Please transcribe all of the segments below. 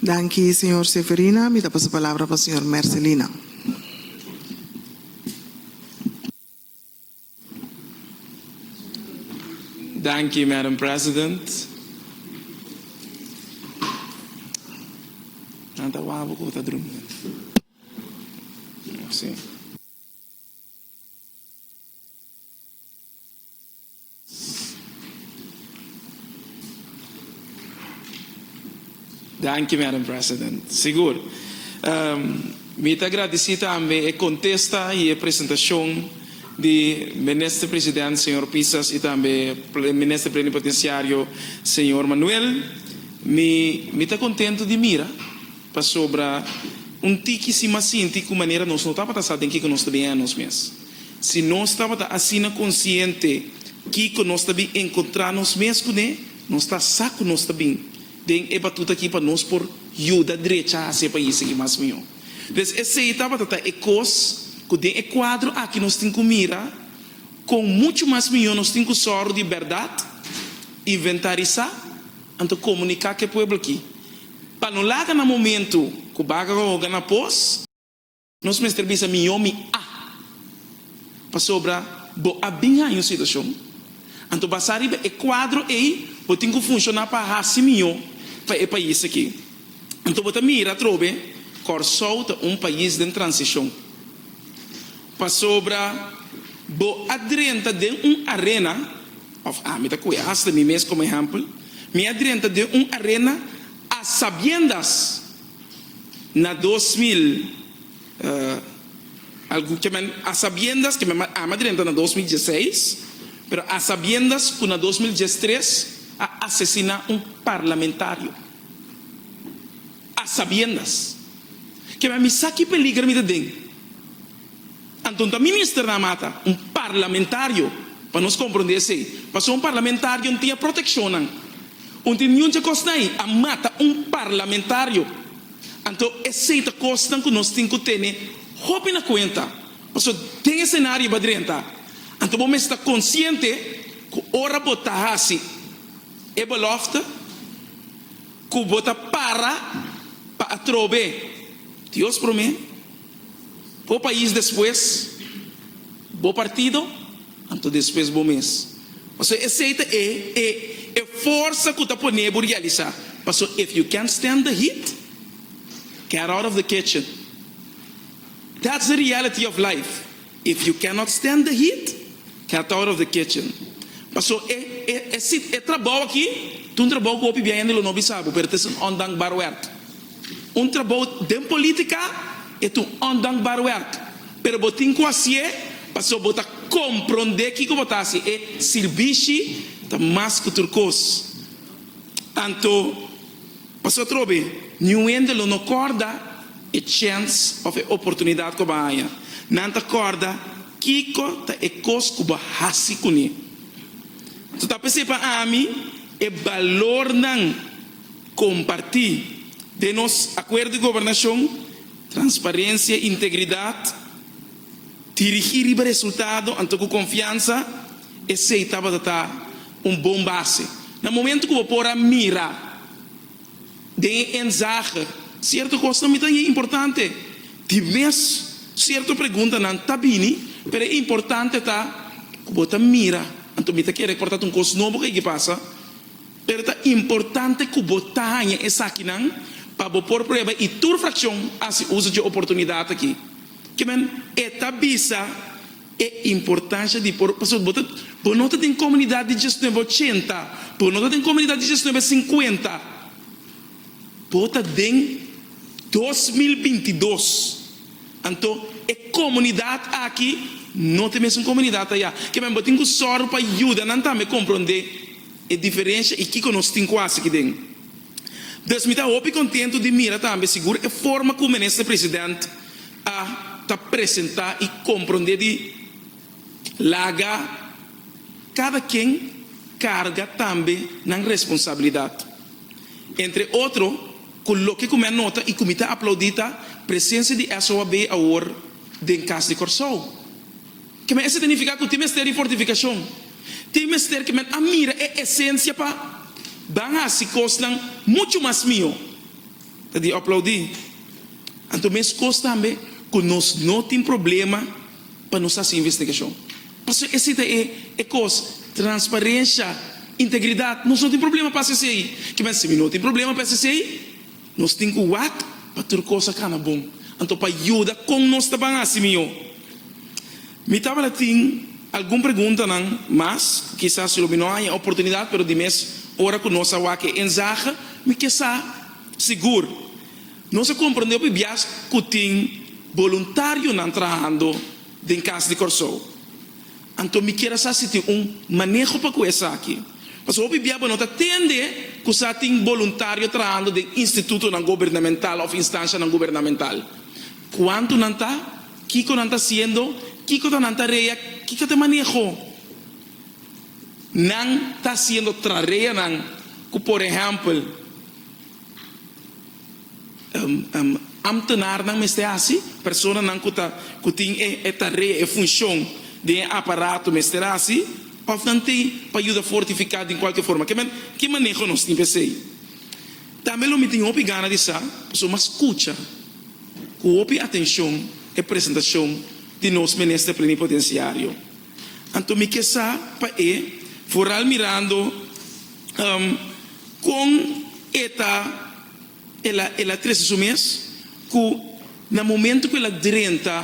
Danki señor Severina, mi ta pasa palabra pa señor Mercelina. Danki Madam President. Nan ta wak bo ku bo ta drumi. Merci. Danki Madam President. Sigur. Mi ta gradisí tambe e kontesta i e presentashon di Minister President señor Pisas i tambe Minister Plenipotenciario señor Manuel. Mi mi ta kontentu di mira pasobra un tiki si mas sinti ku manera nos no tabata sa den kiko nos ta biha nos mes. Si nos tabata asina konsiente kiko nos ta bin enkontrá nos mes kuné, nos ta sa ku nos ta bin den e batut akí pa nos por yuda drecha hasi e pais akí mas mihó. Pues esei tabata ta e kos ku den e kuadro akí nos tin ku mira kon muchu mas mihó nos tin ku sòru di bèrdat, inventarisá anto komuniká ku e pueblo akí pa no laga na momentu ku baga hoga na pos. Nos mester bisa mihó mi a. Pasobra bo a bin haña un situashon. Anto basá riba e kuadro ei bo tin ku funshoná pa hasi mihó pa e pais aki. Anto bo ta mira atrobe Kòrsou ta un pais den transishon. Pasobra bo a drenta den un arena, òf ami ta ku'e hasta mi mes komo ehèmpel, mi a drenta den un arena a sabiendas. Na dos mil, algun kemen a sabiendas, kemen mas ama drenta na dos mil dieseis, pero a sabiendas ku na dos mil diestres a asesiná un parlamentario. A sabiendas. Kemen mi sa ki peliger mi ta den. Anto ta minister na mata un parlamentario pa nos compronde esey pasobra un parlamentario no tin e proteccion nan un tin niun dje cos nay a mata un parlamentario anto esey ta cos nan cu nos tin cu tene hopi na cuenta pasobra den e scenario bo a drenta anto bo mes ta consciente cu ora bo ta haci e belofte cu bo ta para pa atrobe Dios prome. Bo pais despues bo partido anto despues bo mes. Paso esey ta e e e forsa cu ta pone bo realisa. Paso if you can't stand the heat get out of the kitchen. That's the reality of life. If you cannot stand the heat, get out of the kitchen. Paso e e e sit e trabou aki ta un trabou cu hopi bia hende lo no bisa bo, pero ta es un ondankbaar werk. Un trabou den politica e ta un ondankbaar werk, pero bo tin cu haci'e paso bo ta compronde kico bo ta haci. E sirbishi ta mas cu tur cos. Anto. Pasobra atrobe, niun hende lo no kòrda e chèns òf e oportunidat ku bo a haña. Nan ta kòrda kiko ta e kos ku bo a hasi kuné. Su ta p'esei pa ami, e balornan kompartí den nos Akuerdo di Gobernashon, transparensia i integridat, dirigí riba resultado anto ku konfiansa, Esei tabata ta un bon base. Na momento cu bo por a mira den e enzager cierto cosnan mi ta yin importante. Di mes cierto preguntanan ta bini, pero e importante ta cu bo ta mira. Anto mi ta kere por ta un cos nobo cu a yigi pasa, pero ta importante cu bo ta haya esakinan pa bo por prueba y tur fraccion a haci uzo dje oportunidad aki. Kimen e ta bisa? E importancia di por pasobra bo ta bo no ta den comunidad di diecinuebe ochenta bo no ta den comunidad di diecinuebe cincuenta bo ta den dos mil binti dos anto e comunidad aki no ta e mesun comunidad aya kiman bo tin cu sor pa yuda nan tambe compronde e diferencia y kico nos tin cu haci aki den dus mi ta hopi contento di mira tambe sigur e forma cu minister president A ta presentá i komprondé di laga kada ken karga tambe nan responsabilidat. Entre otro, ku loke ku mi a nota i ku mi ta aplaudí ta presensia di SOAB awor den kas di Kòrsou. Ke men esta ta nifiká ku tin mester di fortifikashon? Tin mester ke men a mira e esensia pa ban hasi kosnan muchu mas mihó. Ta di aplaudí. Anto meskos tambe ku nos no tin problema pa nos hasi investigashon. Pasobra esei ta e e kos, transparensha, integridat. Nos no tin problema pa hasi esei. Kiman si mi no tin problema pa hasi esei, nos tin ku wak pa tur kos a kana bon. Anto pa yuda kon nos ta ban hasi mihó. Mi tabata tin algun preguntanan mas, kisas si lo mi no haña oportunidad, pero di mes ora ku nos a wak e enzahe, mi ke sa sigur nos a komprendé hopi bias ku tin boluntarionan trahando den kas di Kòrsou. Anto mi kier a sa si tin un maneho pa ku esaki, pasobra hopi bia bo no ta tende ku sa tin boluntario trahando den institutonan gobernamental òf instanshanan gubernamental. Kuantu nan ta? Kiko nan ta siendo? Kiko ta nan tarea? Kiko ta e maneho nan ta siendo trareanan ku por ehèmpel amtenarnan mester hasi? Personanan ku ta ku tin e tarea, e funshon den e aparato mester hasi? Òf nan tin pa yuda fortifiká den kualke forma? Ke men ke maneho nos tin pa esei? Tambe lo mi tin hopi gana di sa, pasobra m'a skucha. Ku hopi atenshon e presentashon di nos Minister Plenipotensiario. Anto mi ke sa pa e foral mirando kon e ta el a trese su mes ku na momento ku el a drenta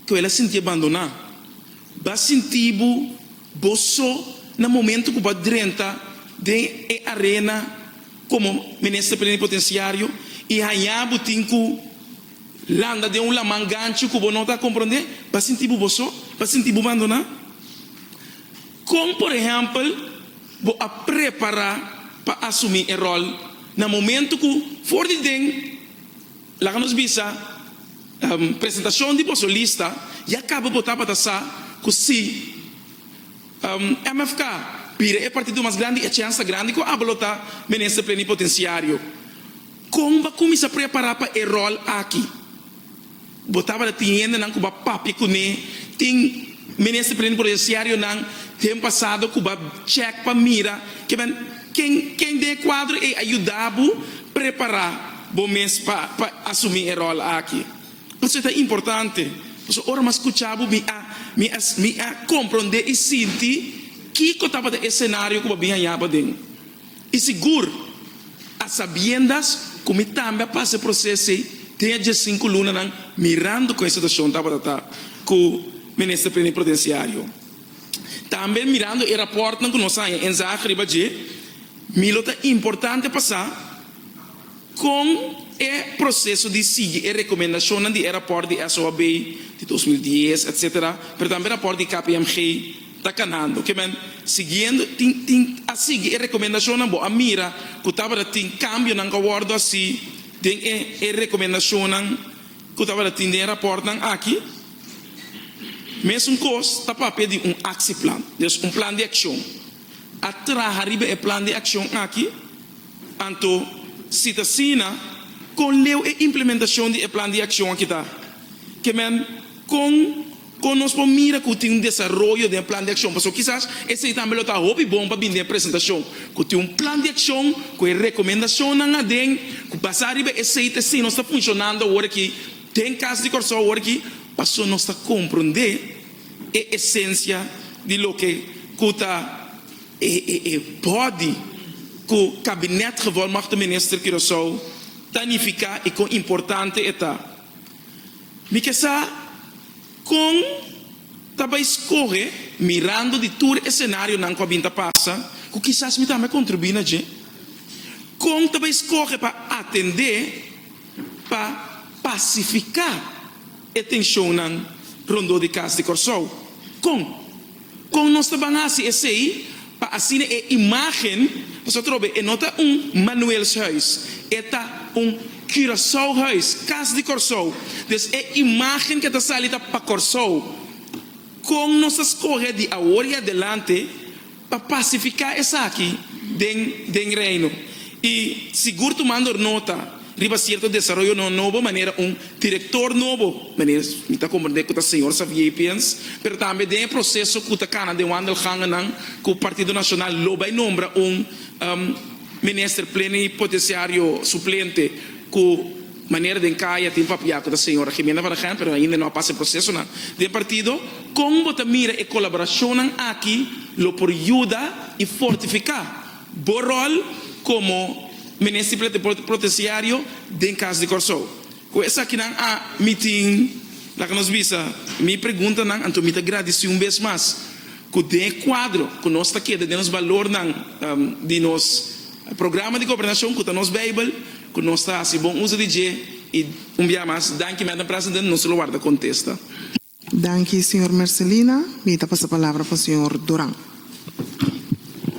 ku el a sinti abandoná. B'a sinti bo bo so na momento ku b'a drenta den e arena komo Minister Plenipotenciario i hañá bo tin ku landa den un laman ganchi ku bo no ta komprondé? B'a sinti bo bo so? B'a sinti bo bandoná? Kon por ehèmpel bo a prepará pa asumí e ròl na momento ku for di den? Laga nos bisa, Presentacion di bo solista ya caba bo tabata sa cu si MFK bira e partido mas grandi e chance ta grandi cu aba lo ta Minister Plenipotenciario. Con ba cuminsa prepara pa e rol aki? Bo tabata tin hendenan cu ba papia cu ne, tin Minister Plenipotenciarionan den pasado cu ba check pa mira kiben. Ken ken den e kuadro ei a yuda bo prepará bo mes pa pa asumí e ròl aki? Pasobra ta importante, pasobra ora mi a skuchá bo mi a mi a mi a komprondé i sinti kiko tabata e senario ku bo a bin hañá paden. I sigur, a sabiendas ku mi tambe a pasa e proseso ei den e dje sinku lunanan mirando kon e situashon tabata ta ku Minister Prene Protensiario. Tambe mirando e rapòrtnan ku nos sa haña ensaya riba dje, mi lo ta importante pa sa kon e proseso di sigui e rekomendashonnan di e rapòrt di SOAB di dos mil dies etsetera, pero tambe rapòrt di KPMG ta kanando. Kimen siguiendo tin tin a sigui e rekomendashonnan bo a mira ku tabata tin kambionan ku a wòrdu hasi den e e rekomendashonnan ku tabata tin den e rapòrtnan aki? Mesun kos ta papia di un aksieplan, des un plan di akshon. A traha riba e plan di akshon aki? Anto, si ta asina, kon leu e implementashon di e plan di akshon aki ta? Ke men, kon kon nos por mira ku tin un desaroyo den e plan di akshon? Pasobra kisas esei tambe lo ta hopi bon pa bini den e presentashon, ku tin un plan di akshon ku e rekomendashonnan aden ku basá riba esei ta asina nos ta funshonando aworaki. Den kas di Kòrsou awor aki pasobra nos ta komprondé e esensia di loke ku ta e bòdi ku Kabinet Gevolmagte Minister Curaçao ta nifiká i kon importante e ta. Mi ke sa kon ta bai skohe mirando di tur e senarionan ku a bin ta pasa ku kisas mi tambe a kontribuí na dje? Kon ta bai skohe pa atendé? pa pasifiká e tenshonnan rondó di kas di Kòrsou. Kon? Kon nos ta ban hasi esei pa asina e imágen, pasotrobe e no ta un Manuelshuis, e ta un Curaçaohuis, kas di Kòrsou, dus e imágen ke ta sali ta pa Kòrsou. Kon nos ta skohe di awor i adelante Pa pasifiká esaki den den Reino i sigur tumando nota riba sierto desaroyo no nobo manera un direktor nobo, manera mi ta komprendé ku ta señor Xavier Piens, pero tambe den e proseso ku ta kana den wandelgangennan ku Partido Nacional lo bai nombra un Minister Plenipotenciario Suplente ku Manera den kaya tin papia ku ta señora Jimena Barragan pero ainda no a pasa e prosesonan den partido, kon bo ta mira e kolaborashonnan aki lo por yuda i fortifiká bo ròl komo Minister Plete Protesiario den kas di Kòrsou? Ku esakinan a mi tin laga nos bisa mi preguntanan anto mi ta gradisí un bes mas ku den e kuadro ku nos ta keda den nos balornan di nos programa di gobernashon ku ta nos beibel, Ku nos ta hasi bon uso di dje i un bia mas danki Madam President nos lo warda kontesta. Danki señor Mercelina, mi ta pasa palabra pa señor Duran.